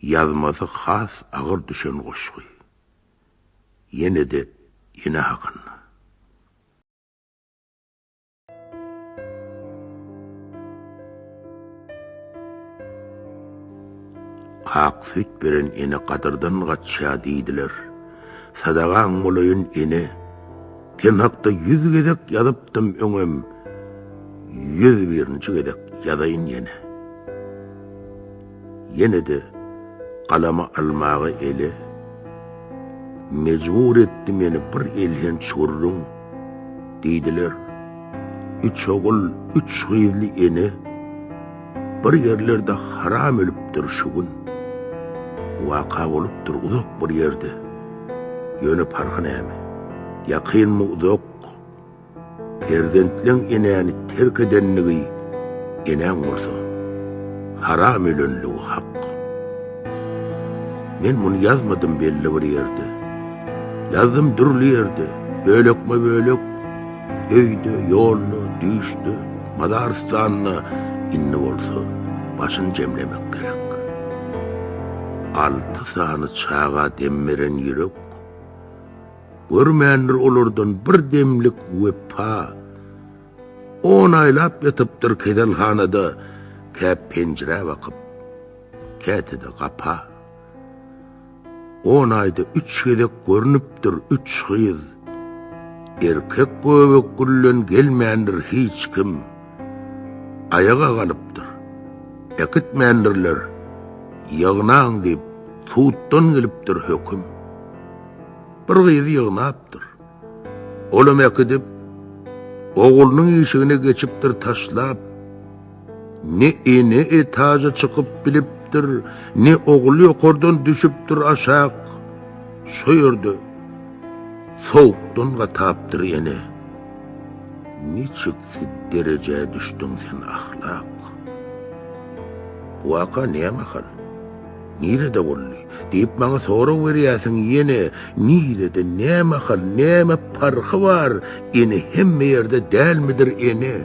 Ýazmasy has agyr düşen goşgy. Ýene-de ene hakynda. Ak süýt beren ene gadyrdan gaçýar diýdiler. Sadagaň bolaýyn ene. Sen hakda ýüz gezek ýazypdym öňem, ýüz birinji gezek ýazaýyn ýene. Ýene-de galamy almaga ele mejbur etdi meni bir elhenç gürrüň, diýdiler, üç ogul, üç gyzly ene, bir ýerlerde haram ölüpdir şu gün. Bu waka bolupdyr uzak bir ýerde. Ýöne parhy näme? Ýakynmy uzak? Perzentleň enäni terk edenligi enäň bolsa, haram ölenligi hak. Men muny ýazmadym belli bir ýerde. Ýazdym dürli ýerde, bölekme-bölek, Öýde, ýolda, düýşde, mazarystanda indi bolsa başyny jemlemek gerek. Alty sany çaga dem beren ýürek görmändir olardan bir demlik wepa. On aýlap ýatypdyr keselhanada, kä penjirä bakyp, käte-de gapa. On aýda üç gezek görnüpdir üç gyz. Erkek göbek güllen gelmändir hiç kim. Aýaga galypdyr. Äkitmändirler. Ýygnaň diýip, suddan gelipdir höküm. Bir gyzy ýygnapdyr. Olam äkidip, oglunyň işigine geçipdir taşlap. Ne ene etaja çykyp bilipdir, ne ogul ýokardan düşüpdir aşak. Şo ýerde sowukdan gatapdyr ene. Niçiksi derejä düşdüň sen ahlak? Bu waka näme hal? Nirede boldy? diýip maňa sorag berýärsiň ýene nirede nämahal näme parhy bar ene hemme ýerde dälmidir ene?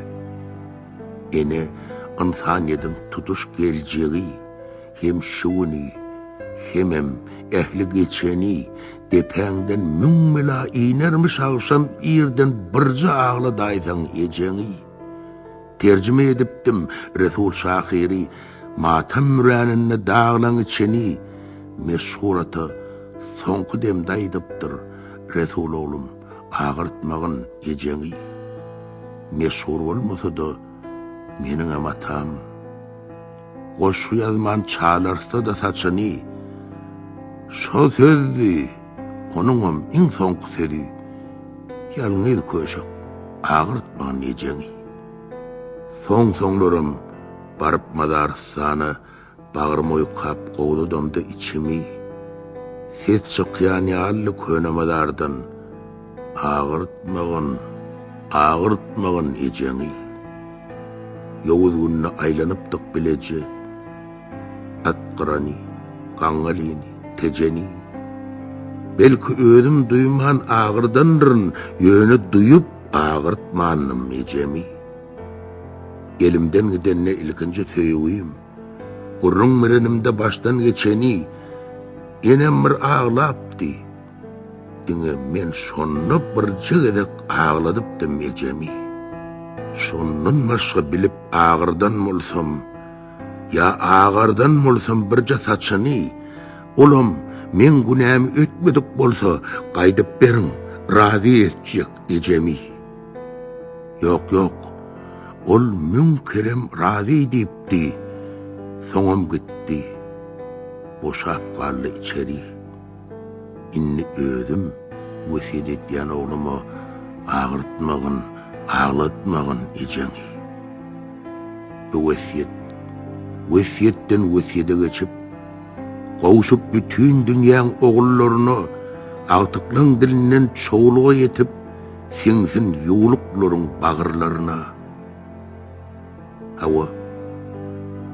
Ene ynsanýediň tutuş geljegi hem şu güni hemem ähli geçeni depäňden müň bela inermiş agşam irden birje agladaýsaň ejeňi. Terjime edipdim, Resul şahyry, Matam müräninde daglaň içeni, Meşhur ata soňky demde aýdypdyr, Resul oglum, agyrtmagyn ejeňi. Meşhur bolmasa-da, meniňem atam, Goşgy ýazman çalartsa-da saçyny, Şo söz-di! Onuňam iň soňky sözi Ýalňyz köşek, agyrtmaň ejeňi. Soň-soňlaram baryp Mazarystana bagrym oýkap gowzadamda içimi, ses çykýan ýalydy köne mazardan, Agyrtmagyn, agyrtmagyn ejeňi. Ýowuz günde aýlanypdyk bileje. Atgyrany, gaňalyny, tejeni. Belki özüm duýman agyrdandyryn, ýöne duýup agyrtmandym ejemi. Elimden gidende ilkinji söýgim, gürrüň berenimde başdan geçeni, enem bir aglapdy. Diňe men şonda birje gezek agladypdym ejemi. Şondan başga bilip agyrdan bolsam, Ýa agardan bolsam birje saçyny, olam meň günämi ötmedik bolsa, gaýdyp beriň, razy etjek ejemi. Ýok, ýok, ol müň kerem razy diýipdi, soňam gitdi. Boşap galdy içeri. Indi özüm wesýet etýän ogluma agyrtmagyn, aglatmagyn ejeňi. Bu wesýet wesýetden wesýede geçip, gowşup bütin dünýäň ogullaryna agtyklaň dilinden çowluga ýetip siňsin ýuwluklaryň bagyrlaryna. Hawa,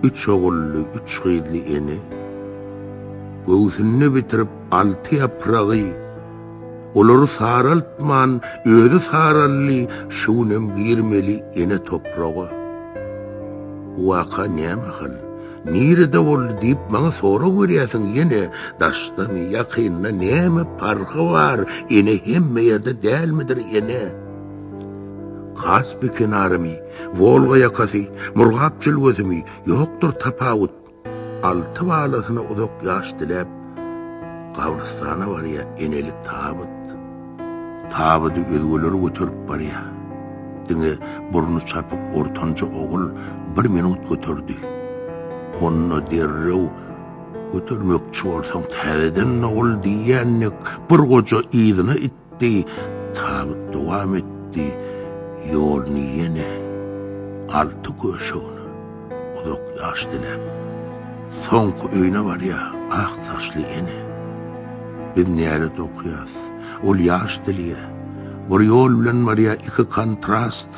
üç ogully, üç gyzly ene göwsünde bitirip alty ýapragy, olary saraltman, özi saraldy, şu günem girmeli ene topraga. Bu waka nämahal, nirede boldy diýip maňa sorag berýärsiň, ýene, daşdamy, ýakynda, näme parhy bar, ene, hemme ýerde dälmidir, ene? Kaspi kenaramy? Wolga ýakasy, Murgap jülgesi-mi, ýokdur tapawut. Alty balasyna uzak ýaş diläp, gabrystana barýar enelik tabyt. Tabydy özgeler göterip barýar. Diňe burny çapyk ortanjy ogul bir minut göterdi. Onda derrew, Götermekçi bolsaň, täzeden dogul diýýän dek, bir goja yzyna itdi. Gitdi, tabyt dowam etdi ýoluny ýene alty göşegine uzak ýaş diläp. Soňky öýüne barýar ak saçly ene. Biz nälet okaýas, ol ýaş dilýär. Bir ýol bilen barýar iki kontrast.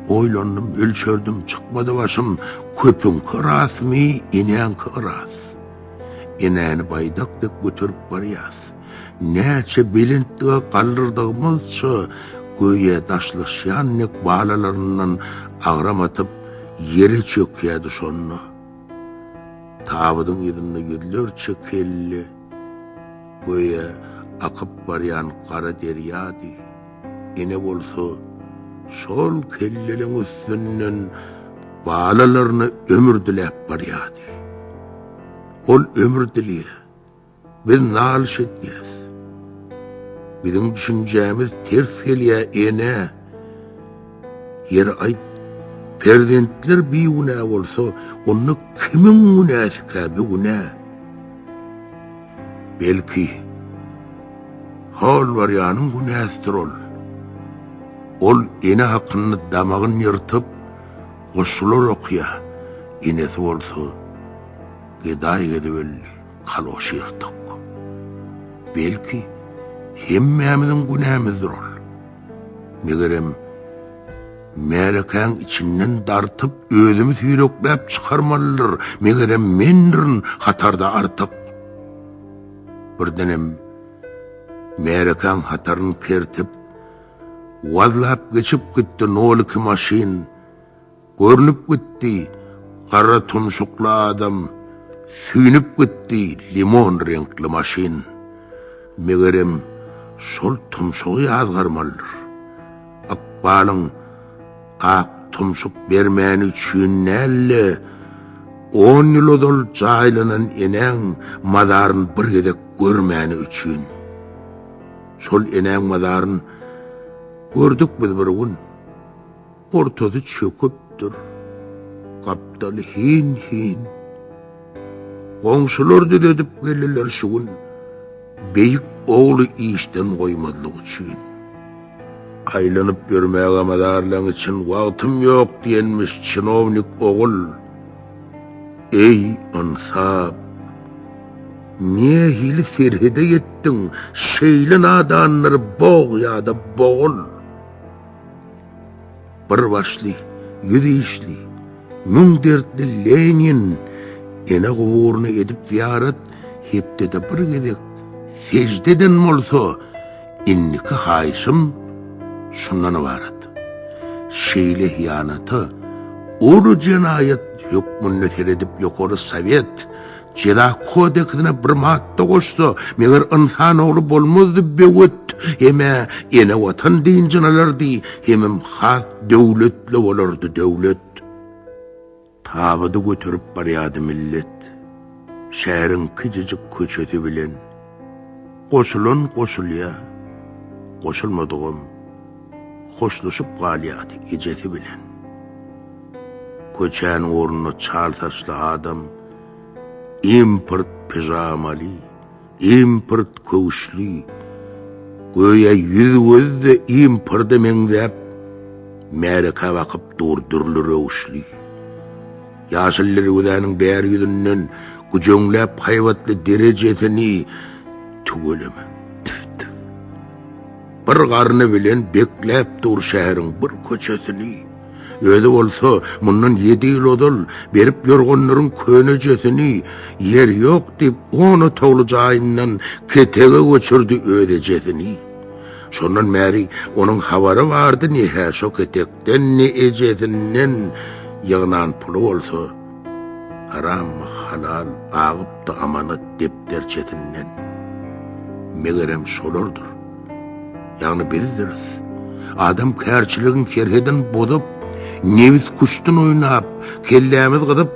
Oýlandym, ölçerdim, çykmady başym, köpüňki rasmy, enäňki yras. Enäni baýdak dek göterip barýas. Näçe belentlige galdyrdygymy-zça, göýä daşlaşýan dek balalaryndan agram atyp, ýere çökýärdi şonda. Tabydyň yzynda ýüzlerçe kelle, göýä akyp barýan gara derýady. Ene bolsa şol kelleleň üstünden balalaryna ömür diläp barýady. Ol ömür dilýä, Biz nalyş etýäs. Biziň düşünjämiz ters gelýä ene. Ýeri aýt, perzentler bigünä bolsa, onda kimiň günäsikä bu günä? Belki, holwarýanyň günäsidir ol. Ol ene hakynda damagyny ýyrtyp, goşgular okýa, enesi bolsa, gedaý gezip öldi. kaloş ýyrtyk. Belki, hemmämiziň günämizdir ol. Megerem, märekäň içinden dartyp, özümi süýrekläp çykarmalydyr, megerem, mendirin hatarda artyk. Birdenem, märekäň hataryny kertip, wazlap geçip gitdi nol iki maşyn. Görnüp gitdi, gara tumşukly adam, süýnüp gitdi, limon reňkli maşyn. Megerem, şol tumşugy ýazgarmalydyr. Ykbalyň ak tumşuk bermäni üçin däl-de, on ýyl ozal jaýlanan enäň mazaryn bir gezek görmäni üçin. Şol enäň mazaryn gördük biz bir gün. Ortasy çöküpdir. Gapdaly hin-hin. Goňşular düzedip geldiler şu gün, beýik ogly işden goýmazlyk üçin. Aýlanyp ýörmäge mazarlaň üçin wagtym ýok diýenmiş çinownik ogul. Eý, ynsap! Nähili serhede ýetdiň, şeýle nadanlary bog ýa-da bogul! Bir başly, ýüz işli, müň dertli Lenin ene guburyny edip zyýarat, hepdede bir gezek sežde eden bolsa, indiki haýyşym şundan ybarat, şeýle hyýanata uly jenaýat hökmünde seredip ýokary sowet, Jeza kodeksine bir madda goşsa, meger ynsan ogly bolmazdy böwet, hem-ä ene watan dynjyny alardy, hemem has döwletli bolardy döwlet. Tabydy göterip barýardy millet. Şäheriň kijijik köçesi bilen. Goşulan goşulýa, goşulmadygam hoşlaşyp galýardy ejesi bilen. Köçäniň ornuna çal saçly adam import pijamaly, import köwüşli, göýä ýüz-gözi-de imporda meňzäp, märekä bakyp dur dürli röwüşli. Ýaşyl derwezäniň bäri ýüzünden güjeňläp haýbatly derejesini tüweleme. Tüf-tüf. Bir garny bilen bekläp dur şäheriň bir köçesini. Özi bolsa mundan ýedi ýyl ozal berip ýorganlaryň könejesini ýer ýok diýip on otagly jaýyndan ketege göçürdi öz ejesini. Şondan bäri onuň habary bardy ne-hä şo ketek Indi ejesinden ýygnan puly bolsa, harammy, halal, agypdy amanat depderçesinden. Megerem şolardyr. Ýagny bizdiris. Adam kärçiligiň serhedini bozup, nebis kuşdan oýnap, kellämiz gyzyp,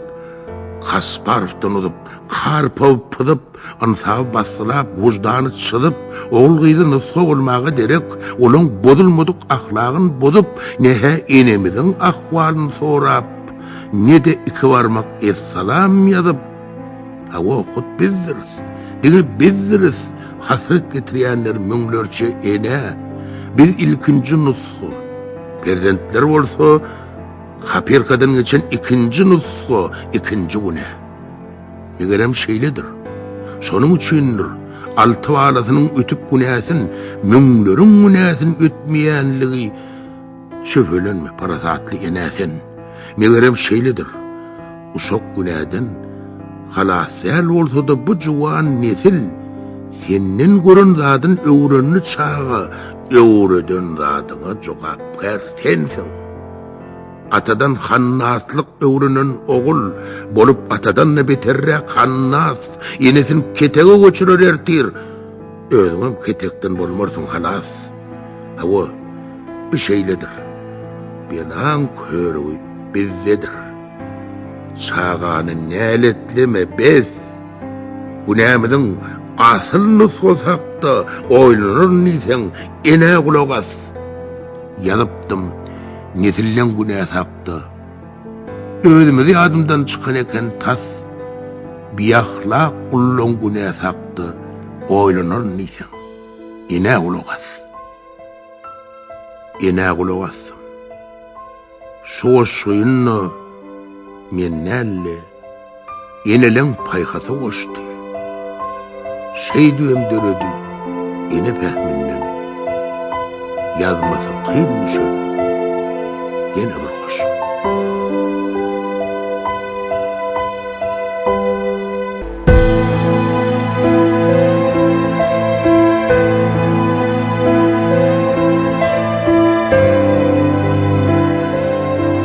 Kasparowdan uzup, Karpowy pyzyp, Ynsaby basgylap, wyždany çyzyp, ogul-gyzy nusga bolmaga derek, olaň bozulmadyk ahlagyn bozup, ne-hä enemiziň ahwalyn sorap, ne-de iki barmak essalam ýazyp, Hawa, hut bizdiris, diňe bizdiris, hasrat getirýänler müňlerçe ene, biz ilkinji nusga, perzentler bolsa, kopirkadan geçen ikinji nusga, ikinji güne. Megerem şeýledir. Şonuň üçindir, alty balasynyň ötüp günäsin, müňleriň günäsin ötmeýänligi Şübhelenme, parasatly ene sen. Megerem şeýledir. Uşak günäden halas däl bolsa-da bu juwan nesil senden gören zadyn öwrendi çaga öwreden zadyňa jogapkär sensiň. Atadan hannaslyk öwrenen ogul, bolup atadan-da beterräk hannas, enesini ketege göçürer ertir, özüňem ketekden bolmarsyň halas. Hawa, bi şeýledir. Belaň körügi bizdedir. Çagany näletleme, bes! Günämiziň asyl nusgasy hakda oýlanaryn diýseň, enä gulak as! Ýazypdym. Nesilden güne sapda. Özümiz ýadymdan çykan eken tas. Biahlak gullan güne sapda, oýlanar diýseň. Enä gulak as. Enä gulak asdym. Şu goşgyny men däl-de. Eneleň paýhasa goşdy. Şeýdibem döredi ene pähiminden. Ýazmasy kyn düşen ýene bir goşgy.